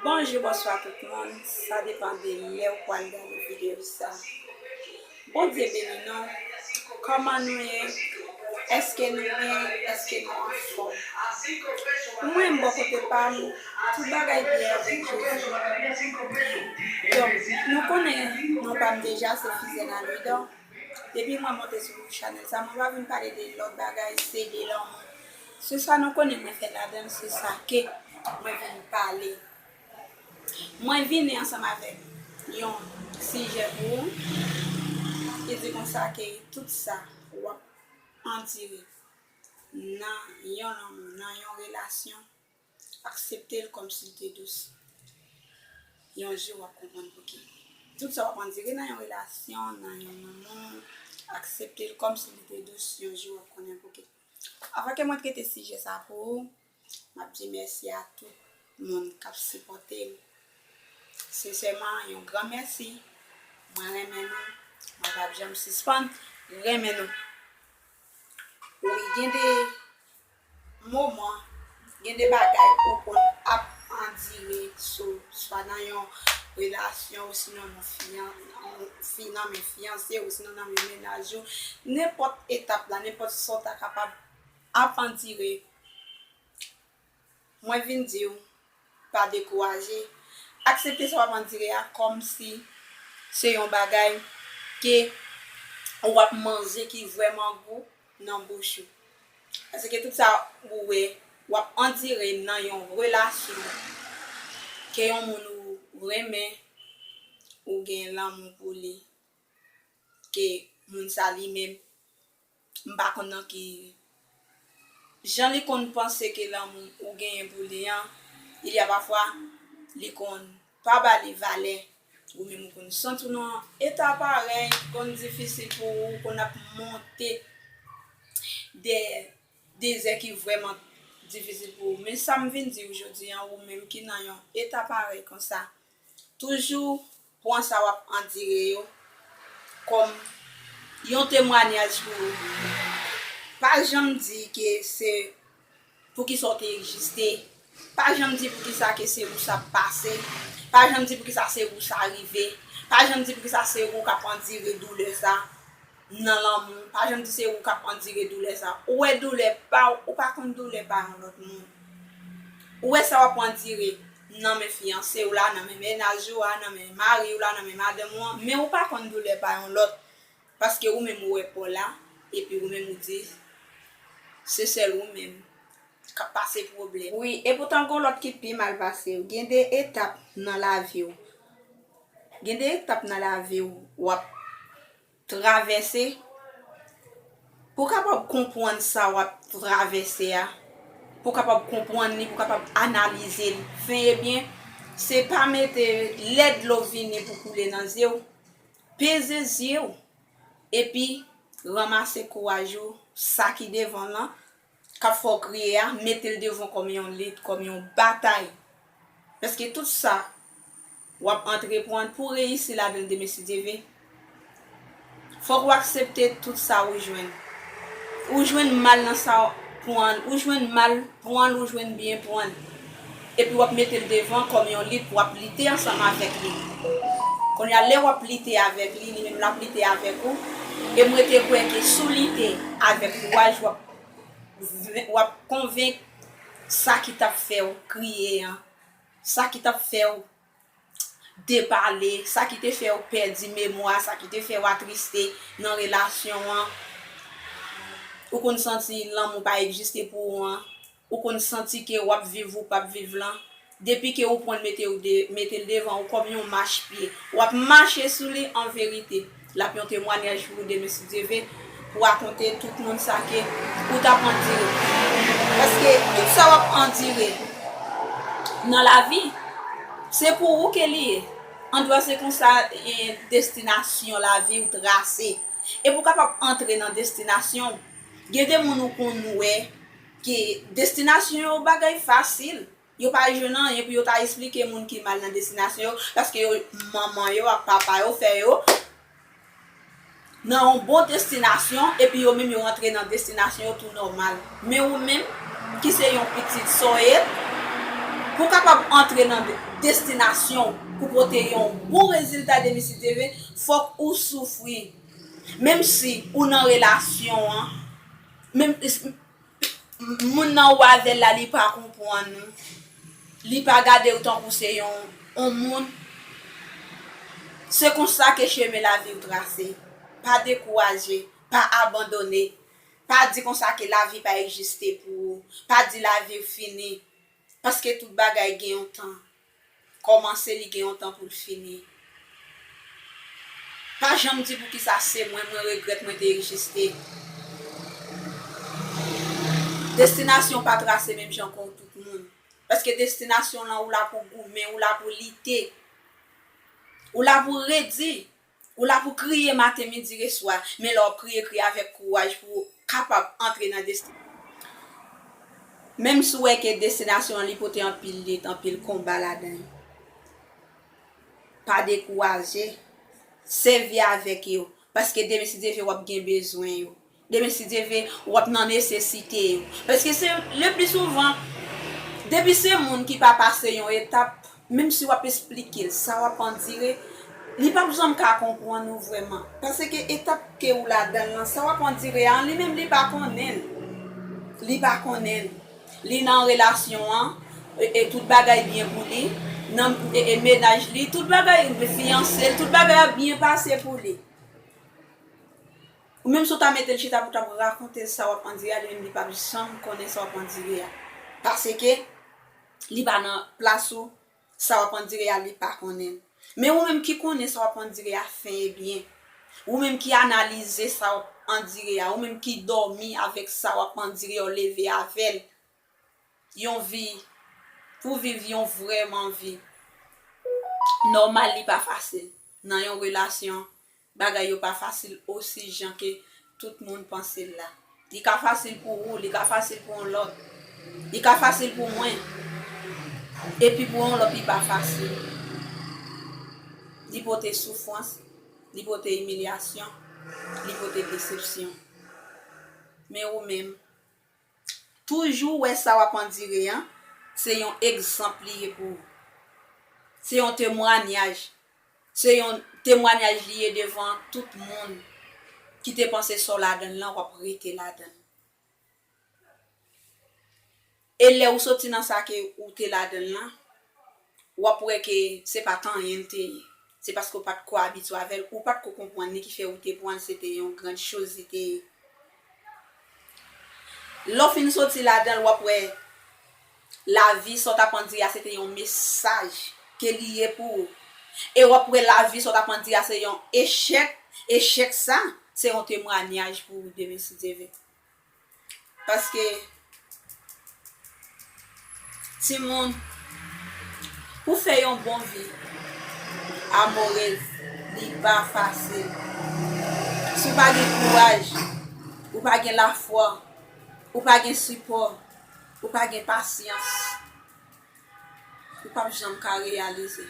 Bonjou bonswa tout moun sa depan de lèw pwal gade video sa Bondye beni nou kòman nou ye eske nou byen eske nou anfòm pou mwen bò kote pam tout bagay byen avèk Jezi donk nou konnen non pam deja se Fizena Louidor depi mwen monte sou chanèl sa mwen pa vin pale de lòt bagay se de lanmou Se sa nou konnen mwen fè ladan l se sa ke mwen vin pale. Mwen vini ansanm avèk yon sijè pou ou ki di konsa ke tout sa w ap andire nan yon lanmou, nan yon relasyon, aksepte l kòm si l te dous. Yon jou w ap konprann pou ki. Tout sa w ap andire nan yon relasyon, nan yon lanmou, aksepte l kòm si li te dous, yon jou w ap konnen pou ki. Avan ke mwen trete sijè sa pou ou, map di mèsi a tout moun kap sipòte m. Sensèman yon gran mèsi. Mwen renmen nou, mwen pap janm sispann renmen nou. Wi gen de moman Gen de bagay ou konn ap andire sou swa nan yon relasyon ou sinon nan fi nan men fiyanse ou sinon nan men mennaj ou. Nenpòt etap la, nenpòt sa w ta kapab ap andire, mwen vin di w pa dekouraje. Aksepte sa w ap andire a kòm si se yon bagay ke ou ap manje ki vrèman gou nan bouch ou. Paske tout sa ou wè wap andire nan yon relasyon ke yon moun ou renmen ou gen lanmou pou li ke moun sa li menm m pa konn nan ki jan li konn panse ke lanmou ou genyen pou li an il y a pafwa li konn pa ba li valè Ou menm ou konn santi w nan yon eta parèy ki konn difisil pou ou, ou konn ap monte dè dezè ki vrèman difisil pou ou. Men sa m vin di ou jodi an, ou menm ki nan yon eta parèy konsa, toujou pran sa w ap andire yo kòm yon temwanyaj pou ou. Pa janm di ke se Poukisa w te egziste? Pa janm di poukisa ke se ou sa ap pase. Pa janm di poukisa se ou sa rive. Pa janm di poukisa se ou k ap andire doulè sa nan lanmou. Pa janm di se ou k ap andire doulè sa. Ou wè doulè pa w, ou pa konn doulè pa yon lòt moun. Ou wè sa w ap andire nan men fiyanse w la, nan men mennaj ou a, nan men mari w la, nan men madanm ou an, men ou pa konn doulè pa yon lòt. Paske ou menm ou wè paw la epi ou menm ou di se sèl ou menm kap pase pwoblèm. Wi epoutan gon lòt ki pi mal pasew. Gen de etap nan laviw gen de etap nan laviw wap travèse pou kapab konpwann sa wap travèse a pou kapab konpwann li pou kapab analize li fen e byen se pa mete lè dlo vini pou koule nan zyew Peze zye w epi ranmase kouraj ou sa ki devan w lan kap fè w kriye a mete l devan w kòm yon lit kòm yon batay paske tout sa wap antreprann pou w reyisi ladan l demen si Dye ve fòk ou aksepte tout sa ou jwenn ou jwenn mal nan sa w pran ou jwenn mal pran l ou jwenn byen pran l. Epi wap mete l devan kòm yon lit pou wap lite ansanm avèk li. Kounye a lè wap lite avèk li, li menm lap lite avèk ou. E m rete kwè ke si w lite avèk kouraj wap wap konvenk sa ki tap fè w kriye an, sa ki tap fè w depale, sa ki te fè w pèdi memwa, sa ki te fè w atriste nan relasyon an, ou konn santi lanmou pa egziste pou ou an, ou konn santi ke w ap viv ou p ap viv lan, depi ke ou pran l mete l devan ou kòm yon machpye, w ap mache sou li anverite. Lap yon temwanyaj pou ou demesitdieve pou rakonte tout moun sa ke ou tap andire paske tout sa wap andire nan lavi se pou ou ke li ye andwa se konsa destinasyon laviw trase e pou kapab antre nan destinasyonw gen de moun ou konn wè ke destinasyon yo bagay fasil Yo pa jwenn anyen pou yo ta esplike moun ki mal nan destinasyon yo paske yo manman yo ak papa yo fè yo nan yon bon destinasyon epi yo menm yo antre nan destinasyon yo tou nòmal. Men ou menm ki se yon pitit sòye pou w kapab antre nan destinasyon w pou pote yon bon rezilta demen si Dye vle fòk ou soufri menm si ou nan relasyon an menm Moun nan ou avèl la li pa konpwann ou, li pa gadew tankou se yon on moun, se konsa ke chemen laviw trase, pa dekouraje, pa abandone, pa di konsa ke lavi pa egziste pou ou, pa di laviw fini, paske tout bagay gen yon tan, kòmanse li gen yon tan poul fini pa janm di poukisa se mwen mwen regrèt mwen te egiste destinasyon pa trase menm jan kòw tout moun paske destinasyon lan ou la pou goumen ou la pou lite ou la pou redi Ou la pou kriye maten, midi re swa, men lè wap kriye kriye avèk kouraj pou ou kapab antre nan destinasyon ou. Menm si ou wè ke destinasyon an li pote anpil lit, anpil konba ladan li. Pa dekouraje, sèvi avèk yo, paske demen si Dye vle wap gen bezwen yo. Demen si Dye vle, w ap nan nesesite yo. Paske se le pli souvan, depi se moun ki pa pase yon etap, menm si w ap esplike l sa w ap andire, li pap janm ka konprann ou vrèman. Paske etap ke ou ladan l lan, sa w ap andire a, li menm li pa konnen l. Li pa konnen l. Li nan relasyon an, e tout bagay byen pou li. Nan mennaj li, tout bagay, fiyanse l, tout bagay ap byen pase pou li. Ou menm si w ta mete l chita pou w t ap rakonte l sa w ap andire a, li menm li p ap janm konnen sa w ap andire a. Paske, li pa nan plas ou, sa w ap andire a li pa konnen l. Men ou menm ki konnen sa w ap andire a fen e byen, ou menm ki analize sa w ap andire a, ou menm ki dòmi avèk sa w ap andire a, w leve avè l, yon vi, pou w viv yon vrèman vi nòmal li pa fasil. Nan yon relasyon, Bagay yo pa fasil osi jan ke tout moun panse l la. Li ka fasil pou ou, li ka fasil pou yon lòt. Li ka fasil pou mwen, epi pou yon lòt li pa fasil. Li pote soufrans, li pote imilyasyon, li pote desepsyon. Men ou menm? Toujou wè sa wap andire an se yon egzanp li ye pou ou. Se yon temwanyaj. Se yon temwanyaj li ye devan tout moun ki te panse sa w ladan l lan wap rete ladan l. E lè ou soti nan sa ke ou te ladan l lan. w ap wè ke se pa t anyen l te ye. Se paske w pa t ko abitye avè l, ou pa t ko konprann li ki fè ou te pran l se te yon grand chose li te ye. Lè w fin soti ladan l, w ap wè lavi sa w t ap andire a se te yon mesaj ke li ye pou ou. E w ap wè lavi sa w t ap andire a se yon echèk, echèk sa se yon temwanyaj pou ou demen si Dye ve. Paske timoun pou fè yon bon vi amorez li pa fasil. Si w pa gen kouraj, ou pa gen lafwa, ou pa gen sipò, ou pa gen pasyans, ou pap janm ka reyalize.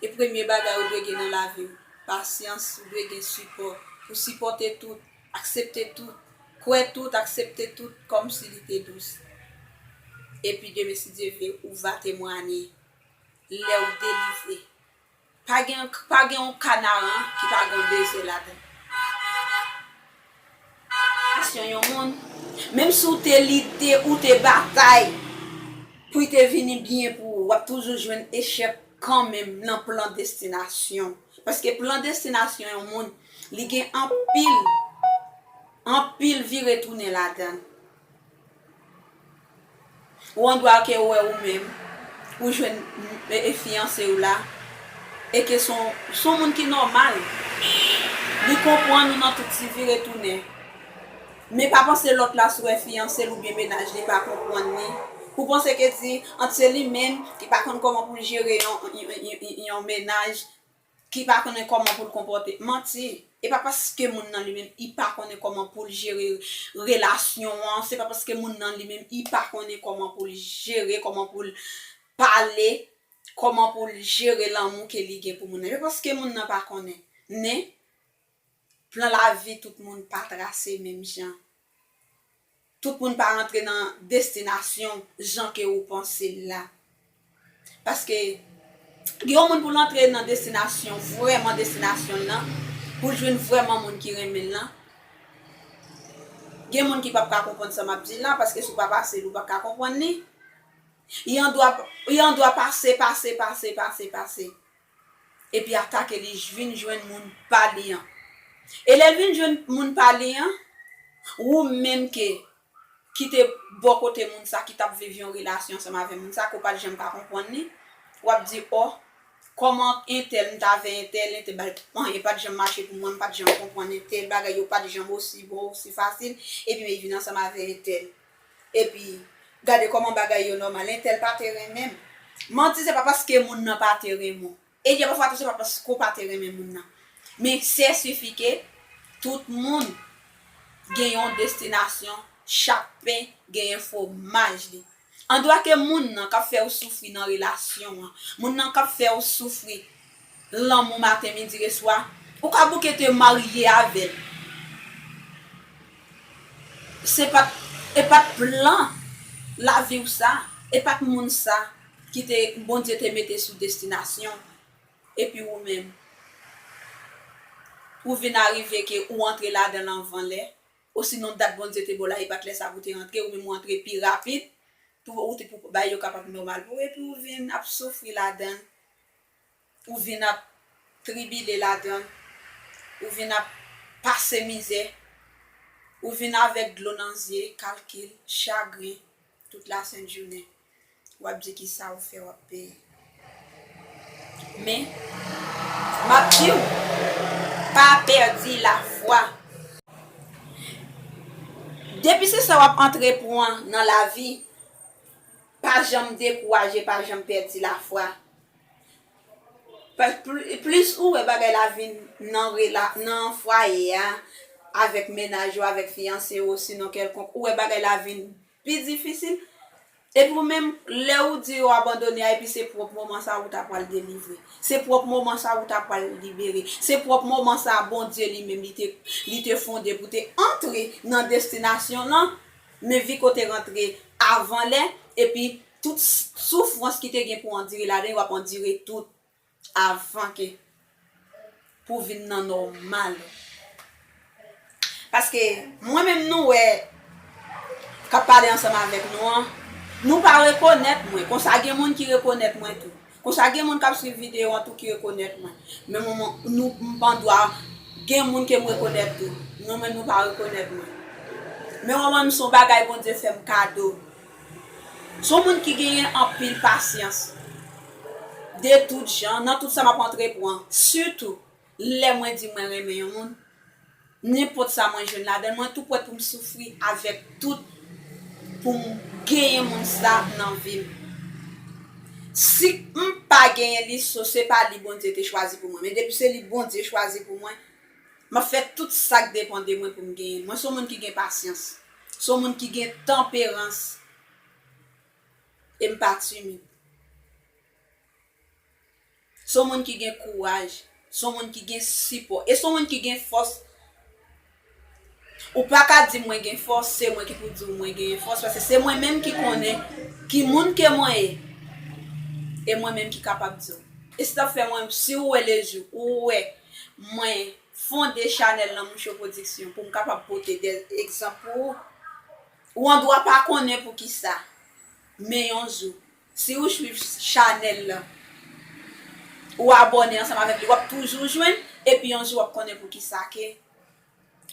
E premye bagay ou dwe gen nan lavi w, pasyans, ou dwe gen sipò pou sipòte tout. Aksepte tout, kwè tout, aksepte tout kòm si li te dous. Epi demen si Dye vle ou va temwanye lè ou delivre. Pa gen pa gen yon kanaran ki pa gen yon deze ladan l. Pasyon yon moun, menm si ou te lite, ou te batay pou li te vini byen pou ou, w ap toujou jwenn echèk kanmenm nan plan destinasyon w. Paske plan destinasyon yon moun li gen anpil anpil vire tounen ladann. Ou andwa ke ou wè ou menm ou jwenn fiyanse ou la e ke se yon moun ki nòmal. Li konprann ou nan tout ti vire tounen. Men pa panse lòt la sou wè fiyanse l oubyen mennaj li pa konprann li pou panse ke di ant se li menm ki pa konn kòman pou l jere yon mennaj, ki pa konnen kòman pou l konpòte. Manti! E pa paske moun nan li menm li pa konnen kòman pou l jere relasyon an, se pa paske moun nan li menm li pa konnen kòman pou l jere, kòman pou l pale, kòman pou l jere lanmou ke li gen pou moun nan. E pa paske moun nan pa konnen. Men. Plan lavi tout moun pa trase menm jan. Tout moun pa rantre nan destinasyon jan ke ou panse l la. Paske gen yon moun pou l antre nan destinasyon, vrèman destinasyon l lan, pou l jwenn vrèman moun ki renmen l lan, gen moun ki p ap ka konprann sa m ap di la, paske si w pa pase li w p ap ka konprann li. Yon dwa pase, pase, pase, pase, pase. epi atake li jvin jwenn moun pa li an. E lè l vin jwenn moun pa li an, wou menm ke ki te bò kote moun sa, ki t ap viv yon relasyon ansanm avè moun sa, ke w pa t janm ka konprann li, w ap di, ò, kòman entèl, m t avè entèl, entèl ba l, anyen pa t janm mache pou mwen, m pa t janm konprann entèl, bagay yo pa t janm osi bon, osi fasil, epi men vin ansanm avè entèl. Epi gade koman bagay yo nòmal entèl pa te renmen m. Manti se pa paske moun nan pa te renmen w. E gen pafwa tou se pa paske w pa te renmen moun nan. Men se sifi ke tout moun gen yon destinasyon, chak pen genyen fwomaj li. Andwa ke moun nan k ap fè w soufri nan relasyon an, moun nan k ap fè w soufri. L lanmou maten midi e swa. Ou ka bouke te marye avè l. Se pa t e pa t plan lavi w sa. E pa t moun sa ki te Bondye te mete sou destinasyon w. Epi ou menm, ou vin arive ke ou antre ladan l anvan lè. Osinon dat Bondye te ba w la e pa t lè sa pou w te antre. Ou menm ou antre pi rapid pou ou te pou bagay yo kapab nòmal pou ou. Epi ou vin ap soufri ladan l. Ou vin ap tribile ladan l, ou vin ap pase mizè, ou vin avèk dlo nan zye, kalkil, chagren, tout lasent jounen. W ap di ki sa ou fè w ap peye. Men, m ap di ou, pa pèdi lafwa. Depi se sa w ap antrepwan nan lavi, Pa janm dekouraje, pa janm pèdi lafwa. Plis ou wè bagay la vin nan fwaye a, avèk mennaj ou, avèk fiyanse ou, osinon kèlkonk, ou wè bagay la vin pi difisil, epi ou menm, lè ou di ou abandone a, epi se pwòp moman sa ou ta pwal delivre. Se pwòp moman sa ou ta pwal libere. Se pwòp moman sa Bondye li menm li te fonde pou te antre nan destinasyon lan. Men Viko te rantre avan lè epi tout soufrans ki te gen pou andire ladan yo ap andire tout avan ke pou vin nan nòmal. Paske mwen menm nou wè k ap pale ansanm avèk nou an, nou pa rekonèt mwen, konsa gen moun ki rekonèt mwen tou. Konsa gen moun kap swiv video an tou ki rekonèt mwen. Men mwen nou m pa andwa gen moun ke m rekonèt tou. Nou menm nou pa rekonèt mwen. Men mwen menm son bagay Bondye fè m kado. Son moun ki genyen anpil pasyans. De tout jan, nan tout sa map antrepran. Sitou. Lè mwen di mwen renmen yon moun, nenpòt sa mwen jwenn ladan l, mwen tou prè pou m soufri avèk tout pou m genyen moun sa nan vi m. Si m pa genyen li, so se pa li Bondye te chwazi pou mwen. Men depi se li Bondye chwazi pou mwen, m ap fè tout sa k depan de mwen pou m genyen l. Mwen se yon moun ki gen pasyans, se yon moun ki gen tanperans e m pa timid. Se yon moun ki gen kouraj, se yon moun ki gen sipò, e se yon moun ki gen fòs. Ou pa ka di mwen gen fòs, se mwen ki pou di ou mwen genyen fòs, paske se mwen menm ki konnen ki moun ke mwen ye, e mwen menm ki kapab di ou. E se sa k fè mwen, si ou wè lejou, ou wè mwen fonde chanèl Lanmou Cho Pwodiksyon pou m kapab pote de egzanp pou ou. Ou andwa pa konnen poukisa, men yon jou, Si ou swiv chanèl lan, ou abòne ansanm avèk li, wap toujou jwenn, epi yon jou wap konnen poukisa ke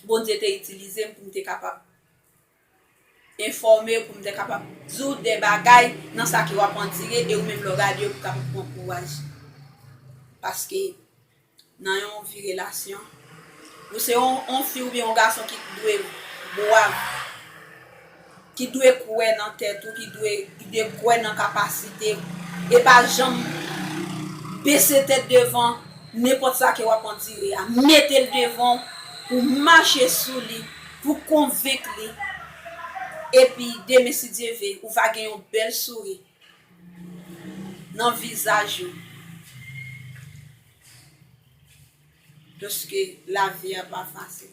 Bondye te itilize m pou m te kapab enfòme w, pou m te kapab di w de bagay nan sa ke wap andire, e ou menm lè w gade yo pou w kapab pran kouraj. Paske. nan yon vi relasyon ou se yon fi oubyen yon gason ki dwe bwav ki dwe kwè nan tèt ou ki dwe kwè nan kapasite e pa janm bese tèt devan nenpòt sa ke wap andire a metel devan w pou mache sou li pou konvenk li epi demen si Dye ve ou va gen yon bèl souri. nan vizaj yo paske lavi a pa fasil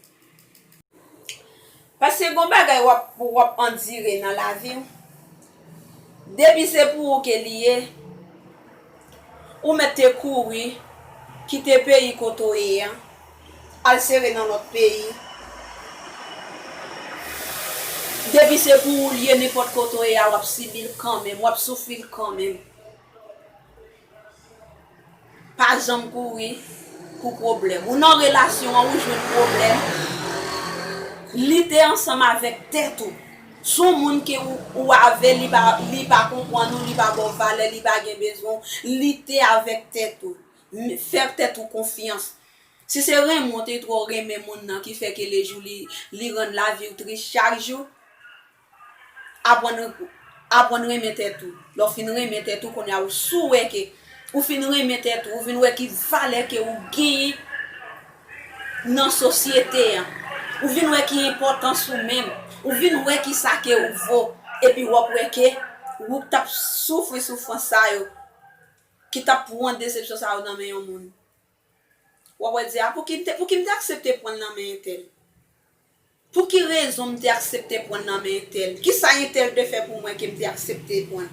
paske gon bagay wap wap andire nan laviw depi se pou ou ke li ye. Ou mèt te kouri kite peyi kote w ye an, al sere nan lòt peyi. Depi se pou ou l ye, nenpòt kote w ye a, w ap sibi l kanmenm, w ap soufri l kanmenm. Pa janm kouri pou pwoblèm. Ou nan relasyon an, ou jwenn pwoblèm, lite ansanm avèk tèt ou. Son moun ke ou avel li pa li pa konpwann ou li pa baw valè li pa gen bezwen w lite avek tèt ou fè tèt ou konfyans si se renmen w te tro renmen moun nan ki fè ke le jou li li rann lavi w tris chak jou apwann apwann renmen tèt ou lè w fin renmen tèt ou konnya ou sou wè ke ou fin renmen tèt ou ou vin wè ki valè ke ou genyen. nan sosyete an, ou vin wè ki enpòtans ou menm, ou vin wè ki sa ke ou vo, epi wap wè ke wou k tap soufri soufrans sa yo, ki tap pwan desepsyon sa yo nan men yon moun, wap wè di a pouki m te aksepte pwan l nan men entèl. Pou ki rezon m te aksepte pran nan men entèl? Ki sa entèl te fè pou mwen ke m te aksepte pran?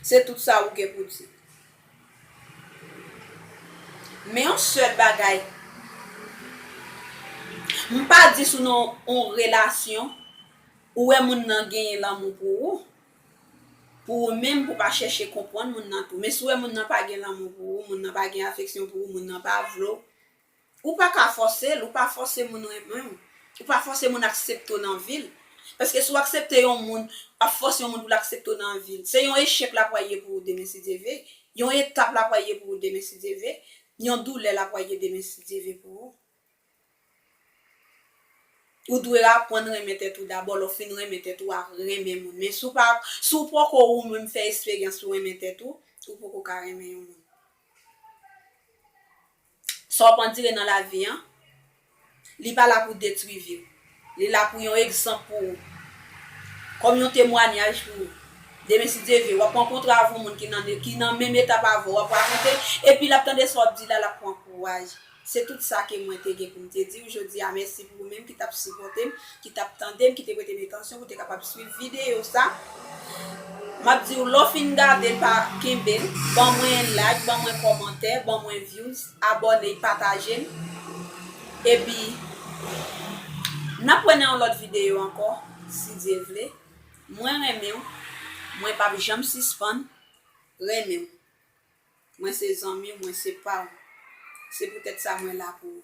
Se tout sa ou gen pou di. Men yon sèl bagay, m pa di si w nan yon relasyon, ou wè moun nan genyen lanmou pou ou, pou ou menm, pou w pa chèche konprann moun nan tou. Men si w wè moun nan pa gen lanmou pou ou, moun nan pa gen afeksyon pou ou, moun nan pa vle w, Ou pa ka fòse l, ou pa fòse moun renmen w, ou pa fòse moun aksepte w nan vi l. Paske si w aksepte yon moun, w ap fòse yon moun pou l aksepte w nan vi l. Se yon echèk l ap pral ye pou ou demen si Dye ve, yon etap l ap pral ye pou ou demen si Dye ve, yon doulè l ap pral ye demen si Dye ve pou ou. Ou dwe aprann renmen tèt ou dabò, lè w fin renmen tèt ou, w a renmen moun. Men si w pa, si w poko ou menm fè esperyans pou renmen tèt ou, ou poko ka renmen yon moun. Sa w ap andire nan lavi an, li pa la pou detwi vi w. Li la pou yon egzanp pou ou, kòm yon temwanyaj pou ou. Demen, si Dye vle, w ap rankontre avè yon moun ki nan menm etap avè w, w ap rakonte, epi l ap tande sa w ap di la, l ap pran kouraj. Se tout sa ke mwen te gen pou m te di ou jodi a. Mèsi pou ou menm ki t ap sipòte m. ki tap tande m ki te prete m atansyon pou te kapab swiv videyo sa map diw lè w fin gade l pa kenbe l ban mwen yon like ban mwen kòmantè ban mwen views abòne pataje l epi nap wè nan yon lòt videyo ankò si Dye vle mwen renmen w mwen pap janm sispann renmen w mwen se zanmi w mwen se pa w se poutèt sa mwen la pou ou.